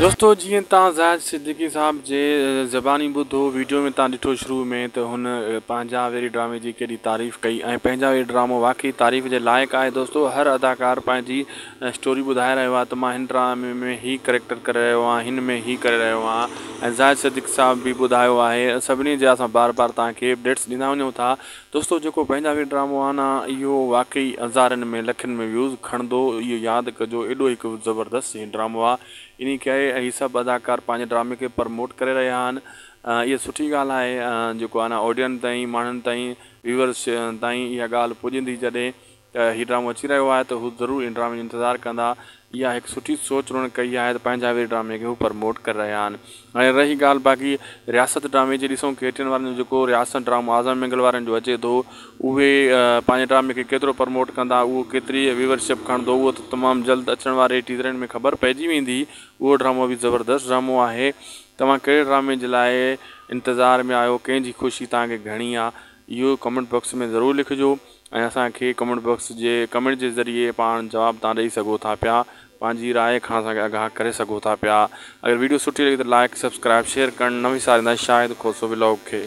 دوستو جيئن تان زاهد صديقي صاحب جي زباني ٻڌو ويڊيو ۾ تان ڏٺو شروع ۾ ته هن پنهنجا ويري ڊرامي جي ڪيڏي تعريف ڪئي ۽ پنهنجا ويري ڊرامو واقعي تعريف جي لائق آهي دوستو هر اداڪار پنهنجي اسٽوري ٻڌائي رهيو آهي ته مان هن ڊرامي ۾ هي ڪريڪٽر ڪري رهيو آهيان هن ۾ هي ڪري رهيو آهيان ۽ زاهد صديقي صاحب به ٻڌايو آهي سڀني جا اسان بار بار تان کي اپڊيٽس ڏيندا وڃون ٿا دوستو جيڪو پنهنجا وي ڊرامو آنا اهو واقعي هزارين ۾ لکين ۾ ويوز کڻندو اهو ياد ڪجو ايڏو هڪ زبردست هي ڊرامو آ انهي ڪري هي سڀ اداڪار پنهنجي ڊرامي کي پرموٽ ڪري رهيا آهن اهي سٺي ڳالهه آهي جيڪو آنا آڊيئن تائين ماڻهن تائين ويورس تائين اها ڳالهه پڄندي جڏهن ته هي ڊرامو اچي رهيو آهي ته هو ضرور ان ڊرامي جو انتظار ڪندا اها هڪ سٺي سوچ انهن ڪئي آهي ته پنهنجا ويري ڊرامي کي هو پرموٽ ڪري رهيا آهن هاڻي رهي ڳالهه باقي رياست ڊرامي جي ڏسون ڪي ٽي اين وارن جو جيڪو رياست ڊرامو اعظم مينگل وارن جو اچي ٿو اهي پنهنجي ڊرامي کي ڪيترو پرموٽ ڪندا اهو ڪيتري ويور شپ کڻندو اهو ته تمام جلد اچڻ واري ٽيزرن ۾ خبر پئجي ويندي اهو ڊرامو به زبردست ڊرامو آهي توهان ڪهڙي ڊرامي جي لاء انتظار ۾ آهيو ڪنهن جي خوشي توهان کي گهڻي آهي اهو ڪمينٽ باڪس ۾ ضرور لکجو. ۽ اسان کي ڪمينٽ باڪس جي ڪمينٽ جي ذريعي پاڻ جواب تان ڏئي سگهو ٿا پيا پنهنجي راء کان اسان کي آگاهه ڪري سگهو ٿا پيا اگر ويڊيو سٺي لڳي ته لائيڪ سبسڪرائيب شيئر ڪرڻ نه وساريندا شاهد کوسو ولاگ کي.